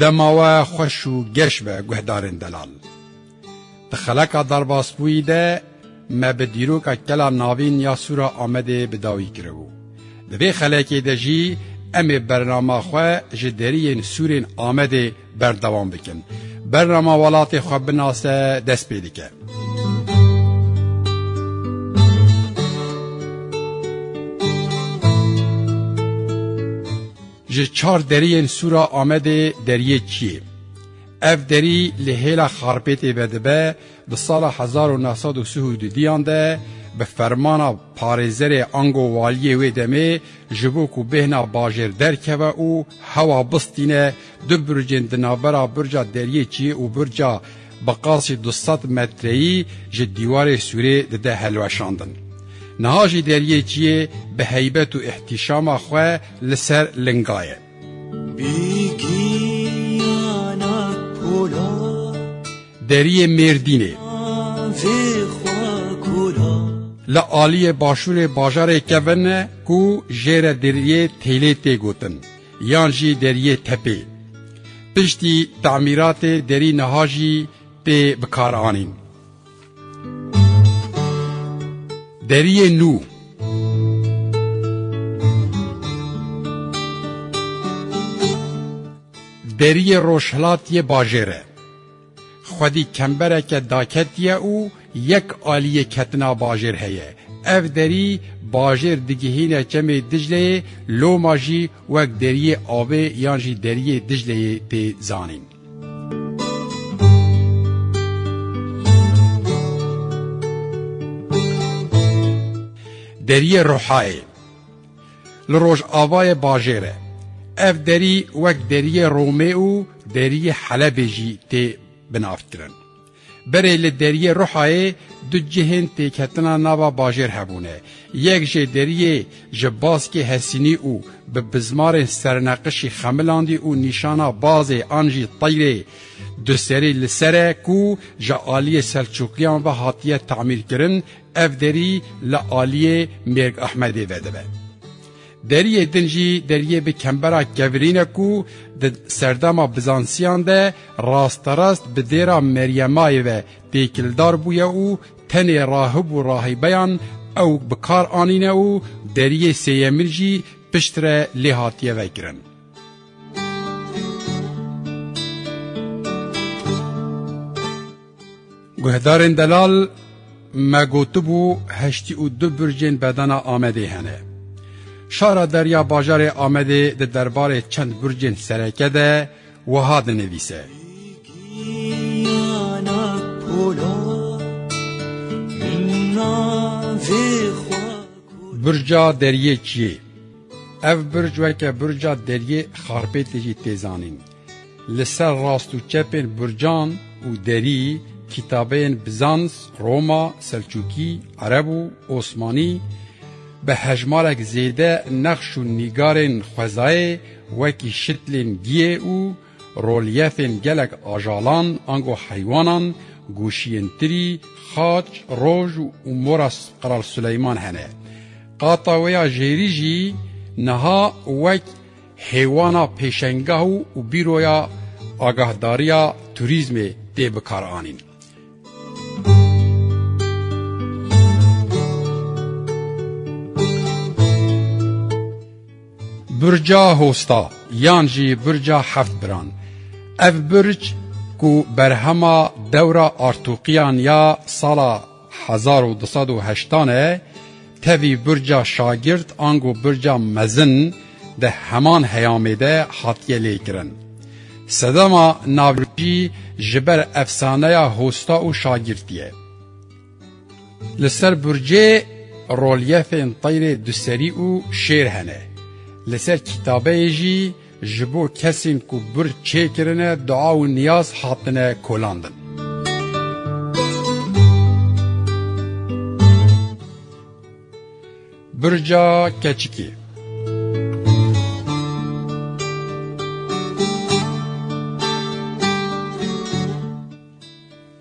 Dema we xweş û geş be guhdarên delal. Di xeleka derbasbûyî de me bi dîroka kela navîn ya Sûra Amedê bi dawî kiribû. Di vê xelekê de jî em ê bernama xwe ji deriyên Sûrên Amedê berdewam bikin. Bernama welatê xwe binase dest pê dike. Ji çar deriyên Sûra Amedê deriyê Çiyê. Ev derî li hêla Xarpêtê vedibe di sala hezar û neh sed û sih û du diyan de bi fermana parêzerê ango waliyê wê demê ji bo ku bêhna bajêr derkeve û hewa bistîne du burcên di navbera burca deriyê Çiyê û burca Bi qasî du sed metreyî ji dîwarê sûrê dide hilweşandin. Niha jî deriyê ciyê bi heybet û îhtîşama xwe li ser linga ye. Deriyê Mêrdînê. Li aliyê başûrê bajarê Kevin e ku jê re deriyê Têlê tê gotin. yan jî deriyê tepê. Piştî temîratê derî niha jî tê bikaranîn. Deriyê nû Deriyê Rojhilatiyê Bajêr e. Xwedî kembereke daketiye û yek aliyê ketina bajêr heye. Ev derî bajêr digihîne çemê Dicleyê, loma jî wek deriyê avê yan jî deriyê Dicleyê tê zanîn. Deriyê Rohayê. Li rojavayê bajêr e. Ev derî wek deriyê Romê û deriyê Helebê jî tê binavkirin. Berê li deriyê Ruhayê du cihên têketina nava bajêr hebûne. Yek jê deriyê ji baskê Hesînî û bi bizmarên serneqişî Xemilandî û nîşana bazê an jî teyrê duserî li ser e ku ji aliyê Selçûkiyan ve hatiye temîrkirin, Ev derî li aliyê Mêrg Ahmedê ve dibe. Deriyê din jî deriyê bi kembera kevirîn e ku di serdema Bizansiyan de rasterast bi dêra Meryemayê ve têkildar bûye û tenê rahib û rahîbeyan ew bi kar anîne û deriyê sêyemin jî piştre lê hatiye vekirin. Guhdarên delal me gotibû heştî û du bircên bedana Amedê hene. Şara derya bajarê Amedê di derbarê çend bircên sereke de wiha dinivîse. Birca deriyê çiyê. Ev birc weke birca deriyê xarpêtê jî tê zanîn. Li ser rast û çepên burcan û derî kîtabeyên Bizans, Roma, Selçûkî, Ereb û Osmanî bi hejmarek zêde nexş û nîgarên xwezayê wekî şitlên giyê û rolyefên gelek ajalan ango heywanan, goşiyên tirî, xaç, roj û mora Kral Suleyman hene. Qata wê ya jêrî jî niha wek Hêwana pêşengah û bîroya agahdariya turîzmê tê bikaranîn. Burca Hosta yan jî Burca Heft Biran, ev burc ku berhema dewra artoqiyan ya sala Hezar û du sed û heştan e tevî burca şagird ango burca mezin di heman heyamê de hatiye lêkirin. Sedema navcî ji ber efsaneya hosta û şagirtî ye. Li ser burcê rolyefên teyrê duserî û şêr hene. Li ser kîtabeyê jî Ji bo kesên ku bir çêkirine dua û niyaz hatine kolandin. Birca keçikê.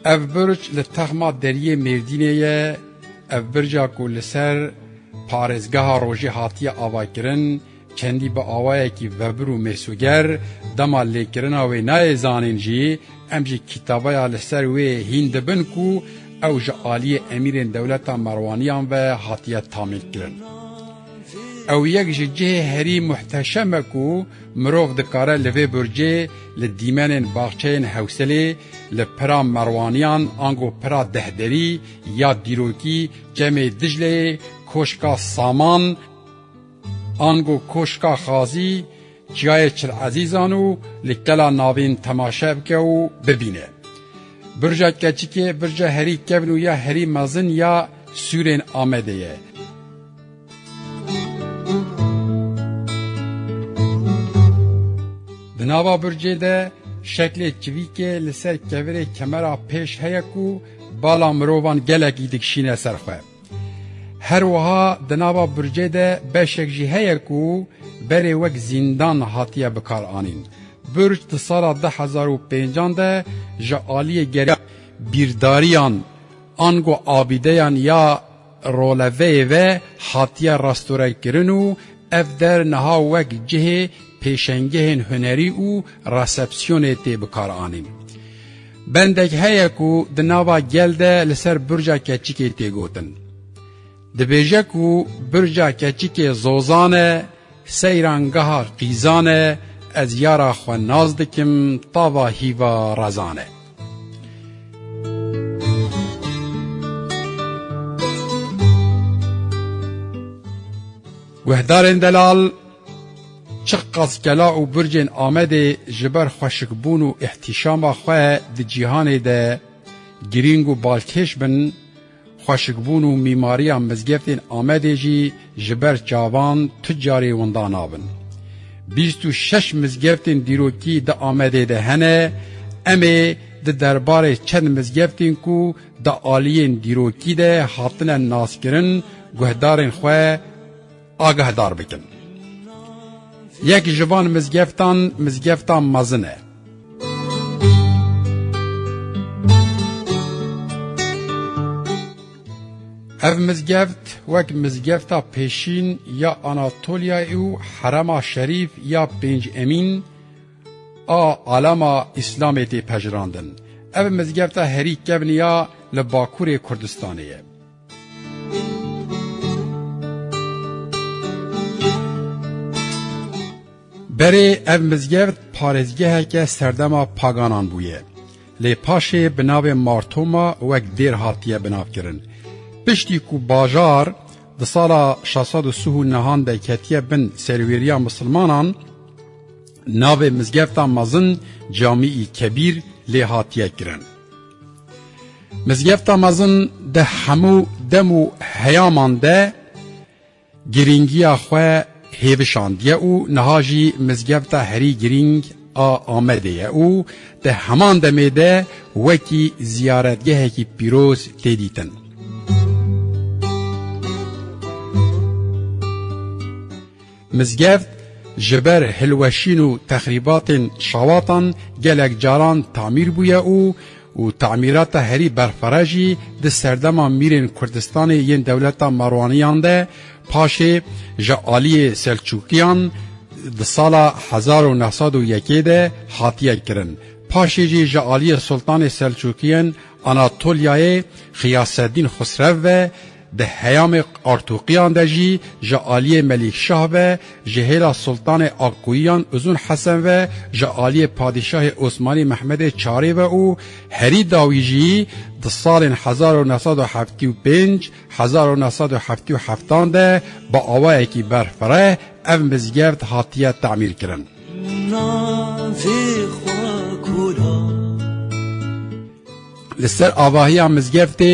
Ev birc li texma deriyê Mêrdînê ye, ev birca ku li ser parêzgeha rojê hatiye avakirin, Çendî bi awayekî vebir û mêsoger dema lêkirina wê nayê zanîn jî, em jî kîtabaya li ser wê hîn dibin ku ew ji aliyê emîrên dewleta Merwaniyan ve hatiye tamînkirin. Ew yek ji cihê herî muhteşem e ku mirov dikare li vê burcê li dîmenên baxçeyên Hewselê, li pira Merwaniyan ango pira Dehderî ya dîrokî Çemê Dicleyê, Koşka Saman, Ango koşka Xazî çiyayê Çilezîzan û li kela navîn temaşe bike û bibîne. Birca keçikê birca herî kevn û ya herî mezin ya sûrên Amedê ye. Di nava bircê de şeklê çivîkê li ser kevirê kemera pêş heye ku bala mirovan gelekî dikişîne ser xwe. Her wiha di nava burcê de beşek jî heye ku berê wek zîndan hatiye bikaranîn. Burc di sala du hezar û pênc an de ji aliyê gerî bîrdariyan ango abîdeyan ya roleveyê ve hatiye restorekirin û ev der niha wek cihê pêşengehên hunerî û resepsiyonê tê bikaranîn. Bendek heye ku di nava gel de li ser Burca Keçikê tê gotin. Dibêje ku Burca Keçikê zozan e, seyrangeha qîzan e, ez yara xwe nas dikim tava hîva rezan e. Guhdarên delal Çiqas kela û bircên Amedê ji ber xweşikbûn û îhtîşama xwe di cîhanê de girîng û balkêş bin, xweşikbûn û mîmariya mizgeftên Amedê jî ji ber çavan tu carî winda nabin. Bîst û şeş mizgeftên dîrokî di Amedê de hene, em ê di derbarê çend mizgeftên ku di aliyên dîrokî de hatine naskirin guhdarên xwe, Agahdar bikin. Yek ji van mizgeftan mizgefta mezin e. Ev mizgeft wek mizgefta pêşîn ya Anatoliyayê û herema şerîf ya pênc emîn a alama Îslamê tê pejirandin. Ev mizgefta herî kevniya li Bakurê Kurdistanê ye. Berê ev mizgeft parêzgeheke serdema paganan bûye. Lê paşê bi navê Martoma wek dêr hatiye binavkirin. Piştî ku bajar di sala şeş sed û sih û nihan de ketiye bin serwêriya misilmanan, Navê Mizgefta Mezin Camî-î Kebîr lê hatiye kirin. Mizgefta Mezin di hemû dem û heyaman de girîngiya xwe hêvişandiye û niha jî mizgefta herî girîng a Amedê ye û di heman demê de wekî ziyaretgehekî pîroz tê dîtin. Mizgeft ji ber hilweşîn û texrîbatên şawatan gelek caran tamîr bûye û û tamîrata herî berxwere jî di serdema mîrên Kurdistanê yên dewleta Marwaniyan de paşê ji aliyê Selçûkiyan di sala hezar û neh sed û yekê de hatiye kirin, paşê jî ji aliyê Sultanê Selçûkiyen Anatolyayê Xiyaseddîn Xusrev ve Di heyamê Artuqiyan de jî ji aliyê Melîk Şah ve, ji hêla Sultanê Akkuyiyan Uzun Hesen ve, ji aliyê Padîşahê Osmanî Mehmedê Çarê ve û herî dawî jî di salên hezar û neh sed û heftî û pênc, hezar û neh sed û heftî û heftan de bi awayekî berfireh ev mizgeft hatiye temîrkirin. Li ser avahiya mizgeftê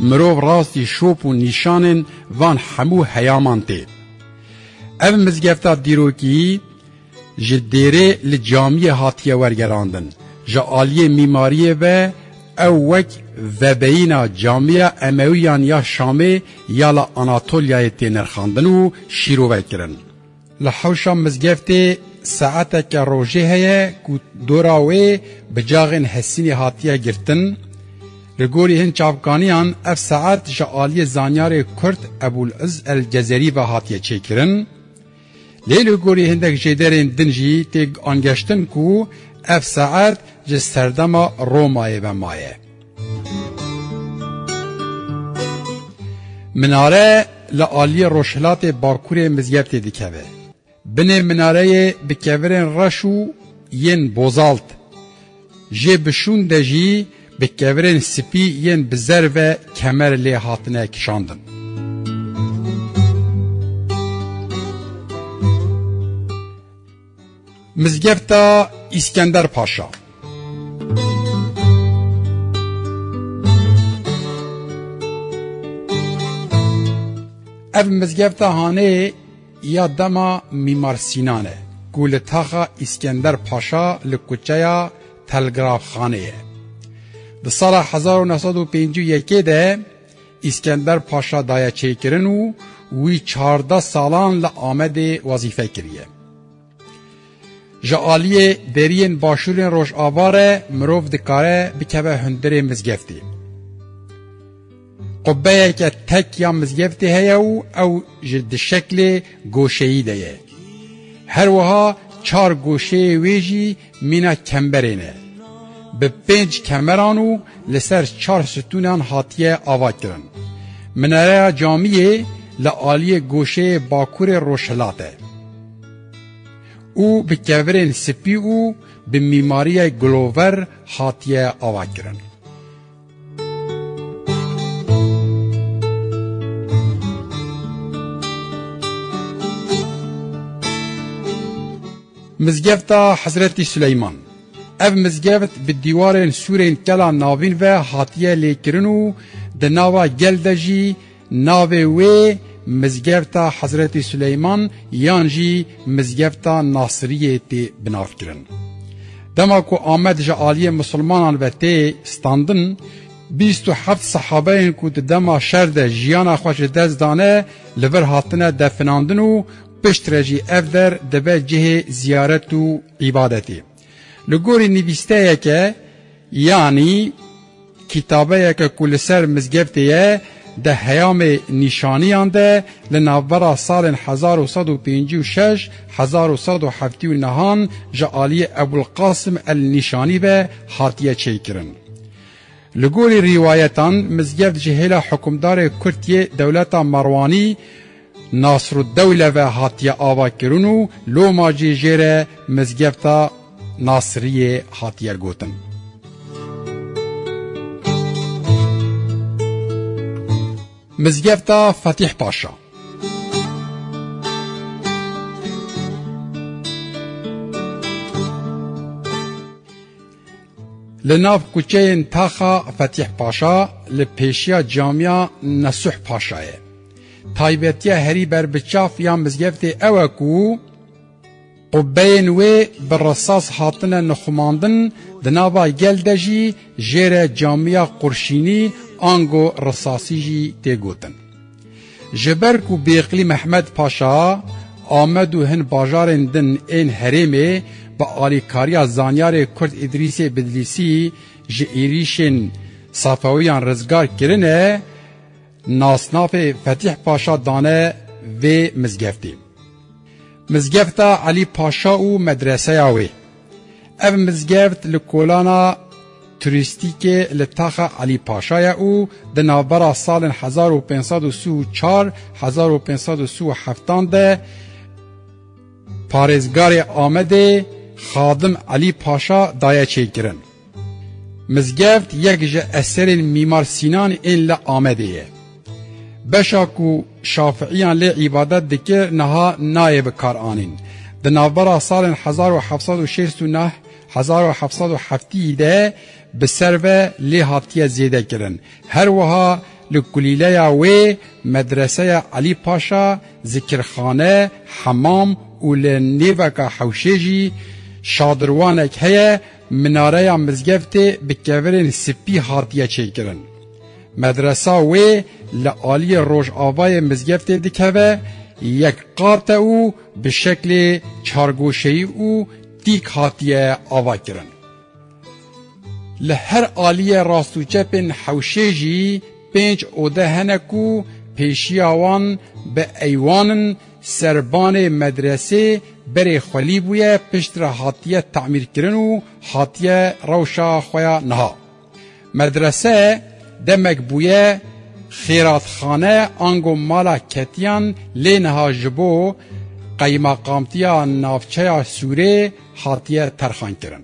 mirov rastî şop û nîşanên van hemû heyaman tê. Ev mizgefta dîrokî ji dêrê li camiyê hatiye wergerandin. Ji aliyê mîmariyê ve ew wek vebeyîna camiya Emewiyan ya Şamê ya li Anatolyayê tê nirxandin û şîrove kirin. Li hewşa mizgeftê saeteke rojê heye ku dora wê bi caxên Hesînê hatiye girtin. Li gorî hin çavkaniyan ev saet ji aliyê zanyarê Kurd Ebûl Îz El Cezerî ve hatiye çêkirin. Lê li gorî hindek jêderên din jî tê angeştin ku ev saet ji serdema Romayê ve maye. Minare li aliyê rojhilatê bakurê Mizyertê dikeve. Binê minareyê bi kevirên reş û yên bozalt, jê bi şûn de jî bi kevirên spî yên bi zer ve kemer lê hatine kişandin. Mizgefta Îskender Paşa Ev mizgefta hanê ya dema Mîmar Sînan e ku li taxa Îskender Paşa li kuçeya Telgrafxanê ye. Di sala hezar û neh sed û pêncî û yekê de Îskender Paşa daye çêkirin û wî çardeh salan li Amedê wezîfe kiriye. Ji aliyê deriyên başûrên Rojava re mirov dikare bikeve hundirê mizgeftê. Qubbeyeke tek ya mizgeftê heye û ew ji di şeklê goşeyî de ye. Her wiha çar goşeyê wê jî Mîna kemberê ne bi pênc kemeran û li ser çar sitûnan hatiye avakirin. Minareya camiyê li aliyê goşeyê bakurê rojhilat e û bi kevirên spî û bi mîmariyê gulover hatiye avakirin. Mizgefta Hezretî Suleyman Ev mizgeft bi dîwarên sûrên kela navîn ve hatiye lêkirin û di nava gel de jî Navê wê Mizgefta Hezretî Suleyman yan jî Mizgefta Nasiriyê tê binavkirin. Dema ku Amed ji aliyê misilmanan ve tê standin, bîst û heft sehabeyên ku di dema şer de jiyana xwe ji dest dane li vir hatine definandin û piştre jî ev der dibe cihê ziyaret û îbadetê. Li gorî nivîsteyeke yanî kîtabeyeke ku li ser mizgeftê ye di heyamê nîşaniyan de li navbera salên hezar û sed û pêncî û şeş hezar û sed û heftî û nehan ji aliyê Ebûlqasim El Nîşanî ve hatiye çêkirin. Li gorî rîwayetan mizgeft ji hêla hukimdarê Kurd yê dewleta Merwanî Nasrûddewle ve hatiye avakirin û loma jî jê re Mizgefta Nasiriyê hatiye gotin. Mizgefta Fetîh Paşa Li nav kuçeyên Taxa Fetîh Paşa li pêşiya camiya Nesuh Paşa ye. Taybetiya herî ber bi çaf ya mizgeftê ew e ku qubbeyên wê bi risas hatine nixumandin, di nava gel de jî jêre camiya qurşînî ango risasî jî tê gotin. Ji ber ku Bêqlî Mehmed Paşa amed û hin bajarên din ên herêmê bi alîkariya zanyarê Kurd Îdrîsê Bidlîsî ji êrîşên Safewiyan rizgar kirine, nasnavê Fetîh Paşa dane vê mizgeftê. Mizgefta Elî Paşa û medreseya wê. Ev mizgeft li kolana turîstîkê li Taxa Elî Paşa ye û di navbera salên hezar û pênc sed û si û çar hezar û pênc sed û si û heftan de parêzgarê Amedê Xadim Elî Paşa daye çêkirin. Mizgeft yek ji eserên Mîmar Sînan ên li Amedê ye. Beşa ku Şafiiyan lê îbadet dike niha nayê bikaranîn. Di navbera salên hezar û heft sed û şêst û neh, hezar û heft sed û heftî de bi ser ve lê hatiye zêdekirin. Her wiha li kulîleya wê medreseya Elî Paşa, zikirxane, hemam û li nêveka hewşê jî şadirwanek heye, Minareya mizgeftê bi kevirên spî hatiye çêkirin. Medresa wê li aliyê rojavayê mizgeftê dikeve, yek qat e û bi şeklê çargoşeyî û tîk hatiye ava kirin. Li her aliyê rast û çepên hewşê jî pênc ode hene ku pêşiya wan bi eywan in, Serbanê medresê berê xwelî bûye pişt re hatiye tamîrkirin û hatiye rewşa xwe ya niha. Medrese demek bûye xêratxane ango mala ketiyan lê niha ji bo qeyimaqamtiya navçeya Sûrê hatiye terxankirin.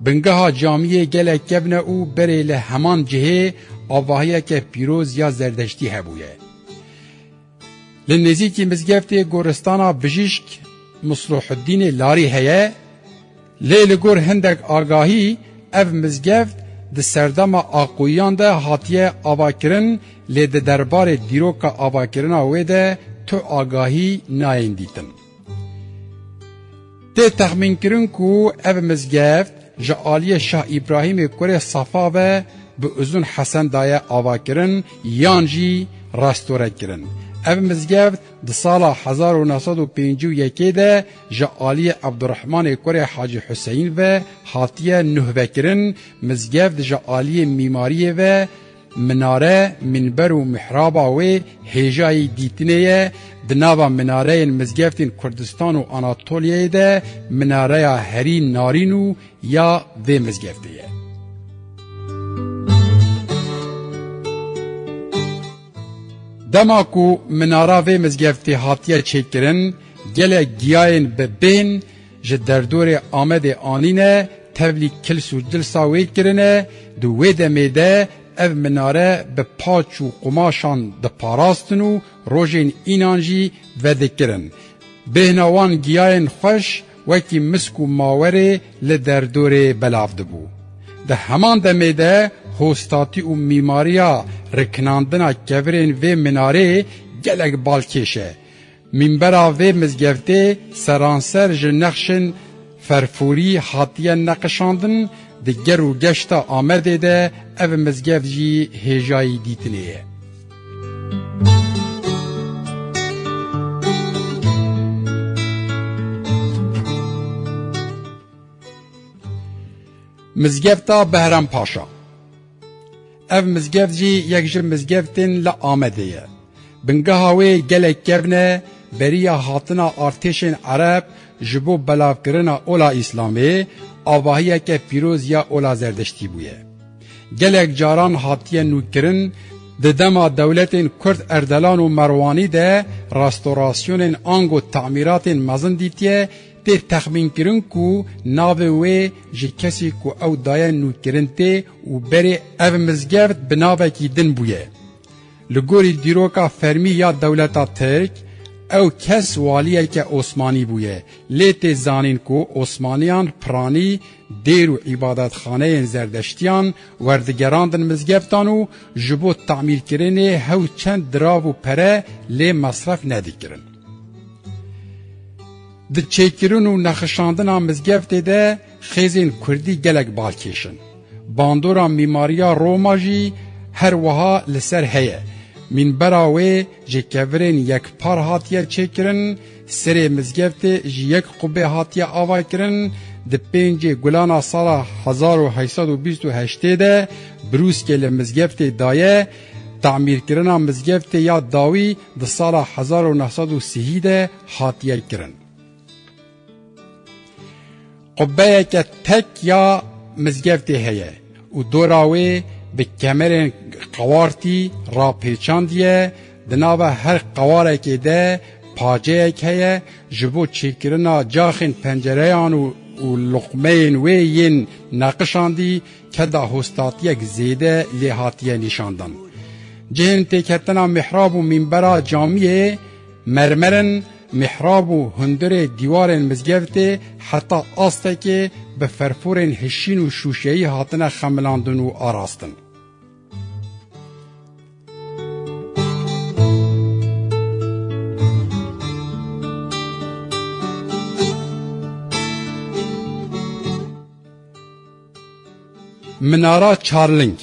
Bingeha camiyê gelek kevne û berê li heman cihê avahiyeke pîroz ya zerdeştî hebûye. Li nêzîkî mizgeftê goristana bijîşk Musluhuddînê Larî heye, lê li gor hindek agahî ev mizgeft di serdema Aqûyiyan de hatiye avakirin lê di derbarê dîroka avakirina wê de tu agahî nayên dîtin. Tê texmînkirin ku ev mizgeft ji aliyê Şah Îbrahîmê kurê Safa ve bi Uzun Hesen daye avakirin yan jî restore kirin. Ev mizgeft di sala hezar û neh sed û pêncî û yekê de ji aliyê Ebdurehmanê kurê Hacî Huseyîn ve hatiye nuhvekirin, mizgeft ji aliyê mîmariyê ve Minare, mînber û mihraba wê hêjayî dîtinê ye, di nava minareyên mizgeftên Kurdistan û Anatolyayê de minareya herî narîn û ya vê mizgeftê ye. Dema ku minara vê mizgeftê hatiye çêkirin gelek giyayên bi bên, Ji derdorê Amedê anîne, tevlî kils û cilsa wê kirine, di wê demê de ev minare bi paç û qumaşan diparastin û rojên înan jî vedikirin. Bêhna wan giyayên xweş wekî misk û mawerê li derdorê belav dibû. Di heman demê de hostatî û mîmariya rikinandina kevirên vê minarê gelek balkêş e. Mînbera vê mizgeftê seranser ji nexşên ferforî hatiye neqişandin, di ger û geşta Amedê de ev mizgeft jî hêjayî dîtinê ye. Mizgefta Behram Paşa. Ev mizgev jî yek ji mizgevtên li Amedê ye. Bingeha wê gelek kevn e beriya hatina artêşên Ereb ji bo belavkirina ola Îslamê avahiyeke pîroz ya ola Zerdiştî bûye. Gelek caran hatiye nûkirin di dema dewletên Kurd Erdelan û Merwanî de restorasyonên ango temîratên mezin dîtiye Tê texmînkirin ku navê wê ji kesê ku ew daye nûkirin tê û berê ev mizgeft bi navekî din bûye. Li gorî dîroka fermî ya dewleta Tirk, ew kes waliyeke Osmanî bûye, lê tê zanîn ku Osmaniyan piranî, dêr û îbadetxaneyên zerdeştiyan werdigerandin mizgeftan û ji bo tamîrkirinê hew çend dirav û pere lê mesref nedikirin. Di çêkirin û nexişandina mizgeftê de xêzên kurdî gelek bal kêş in. Bandora mîmariya Roma jî her wiha li ser heye. Mînbera wê ji kevirên yekpar hatiye çêkirin, serê mizgeftê ji yek qubê hatiye avakirin, di pêncê gulana sala hezar û heşt sed û bîst û heştê de brûskê li mizgeftê daye, tamîrkirina mizgeftê ya dawî di sala hezar û neh sed û sihî de hatiye kirin. Qubbeyeke tek ya mizgeftê heye û dora wê bi kemerên qewartî rapêçandiye, di nava her qewarekê de paceyek heye ji bo çêkirina caxên pencereyan û luqmeyên wê yên neqişandî, ke dahostatiyek zêde lê hatiye nîşandan. Cihên têketina mihrab û mînbera camiyê mermer in, mihrab û hundirê dîwarên mizgevtê heta astekê bi ferforên hişîn û şûşeyî hatine xemilandin û arastin. Minara Çarling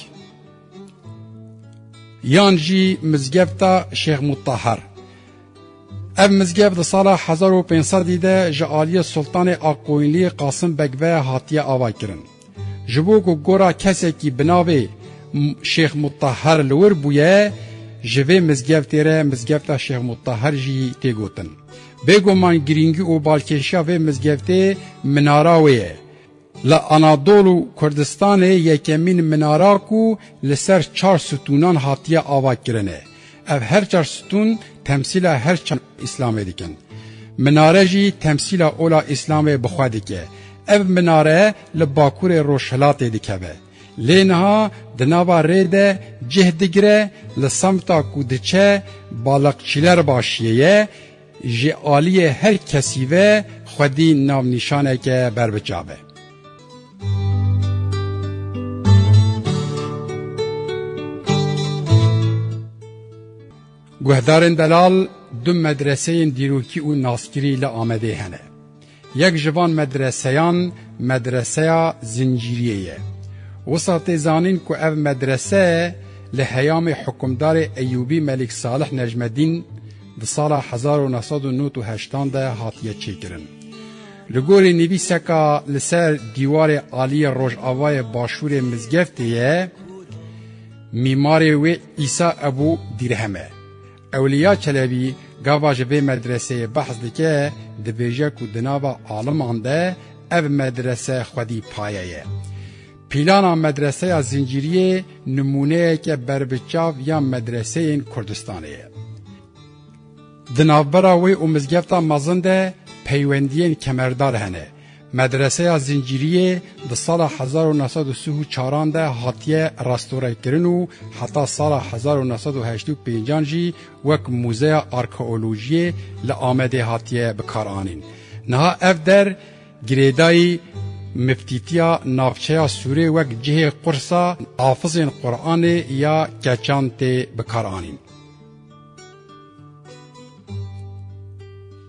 yan jî mizgefta Şêx Mutahar. Ev mizgef di sala 1500 de ji aliyê Sultanê Akkoyunlî Qasim Beg ve hatiye avakirin. Ji bo ku gora kesekî bi navê Şêx Mutahar li wir bûye, ji vê mizgeftê re mizgefta Şêx Mutahar jî tê gotin. Bêguman girîngî û balkêşiya vê mizgeftê minara wê ye. Li Anadol û Kurdistanê yekemîn minara ku li ser çar stûnan hatiye ava kirin e. Ev her çar stûn temsîla her çend îslamê dikin. Minare jî temsîla ola îslamê bi xwe dike. Ev minare li bakurê rojhilatê dikeve. Lê niha di nava rê de cih digire, li semta ku diçe baliqçîler başiyê ye, Ji aliyê her kesî ve xwedî navnîşaneke berbiçave. Guhdarên delal du medreseyên dîrokî û naskirî li Amedê hene. Yek ji van medreseyan Medreseya Zincîriyê ye. Wisa tê zanîn ku ev medrese li heyamê hukimdarê Eyûbî Melik Salih Necmedîn di sala hezar û neh sed û nod û heştan de hatiye çêkirin. Li gorî nivîseka li ser dîwarê aliyê rojavayê başûrê mizgeftê ye, mîmarê wê Îsa Ebû Dîrhem e. Ewliya Çelebî gava ji vê medreseyê behs dike, dibêje ku di nava aliman de ev medrese xwedî paye ye. Pîlana medreseya Zincîriyê nimûneyeke berbiçav ya medreseyên Kurdistanê ye. Di navbera wê û mizgefta mezin de peywendiyên kemerdar hene. Medreseya Zincîriyê di sala hezar û neh sed û sih û çaran de hatiye restorekirin û heta sala hezar û neh sed û heşt û pêncan jî wek mûzeya arkeolojiyê li Amedê hatiye bikaranîn. Niha ev der girêdayî miftîtiya navçeya Sûrê wek cihê qursa hafizên Quranê ya keçan tê bikaranîn.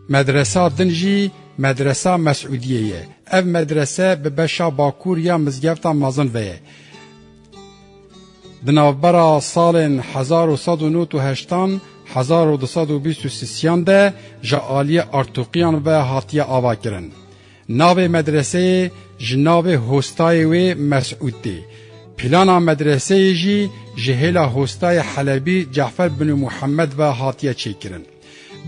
Medresa din jî Medresa Mesûdiyê ye. Ev medrese bi beşa bakur ya mizgefta mezin ve ye. Di navbera salên hezar û sed û nod û heştan hezar û du sed û bîst û sisiyan de ji aliyê artoqiyan ve hatiye avakirin. Navê medreseyê ji navê hostayê wê Mesûd tê. Plana medreseyê jî ji hêla hostayê Helebî Ce'fer Binu Muhemed ve hatiye çêkirin.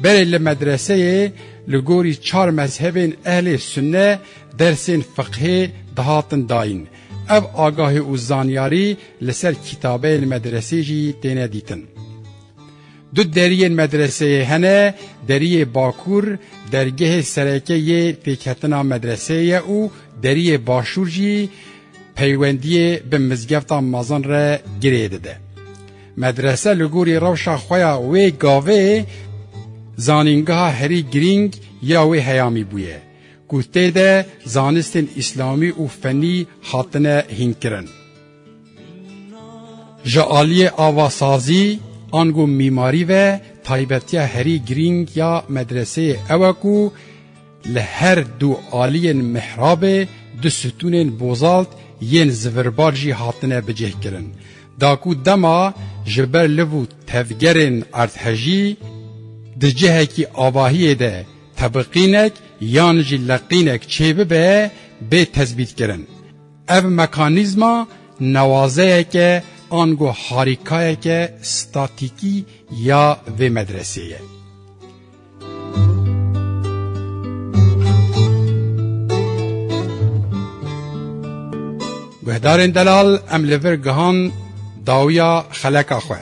Berê li medreseyê li gorî çar mezhebên ehlê sunne dersên fiqhê dihatin dayîn. Ev agahî û zanyarî li ser kîtabeyên medresê jî têne dîtin. Du deriyên medreseyê hene, deriyê bakur dergehê sereke yê pêkhetina medreseyê ye û deriyê başûr jî peywendiyê bi mizgefta mezin re girê dide. Medrese li gorî rewşa xwe ya wê gavê zanîngeha herî girîng ya wê heyamî bûye ku tê de zanistên îslamî û fenî hatine hînkirin. Ji aliyê avasazî ango mîmarî ve taybetiya herî girîng ya medreseyê ew e ku li her du aliyên mihrabê du sitûnên bozalt yên zivirbar jî hatine bicihkirin. Da ku dema ji ber liv û tevgerên erdhejî di cihekî avahiyê de tebiqînek yan jî leqînek çêbibe bê tezbîtkirin. Ev mekanîzma newazeyeke ango harîkayeke statîkî ya vê medresê ye. Guhdarên delal em li vir gihan dawiya xeleka xwe.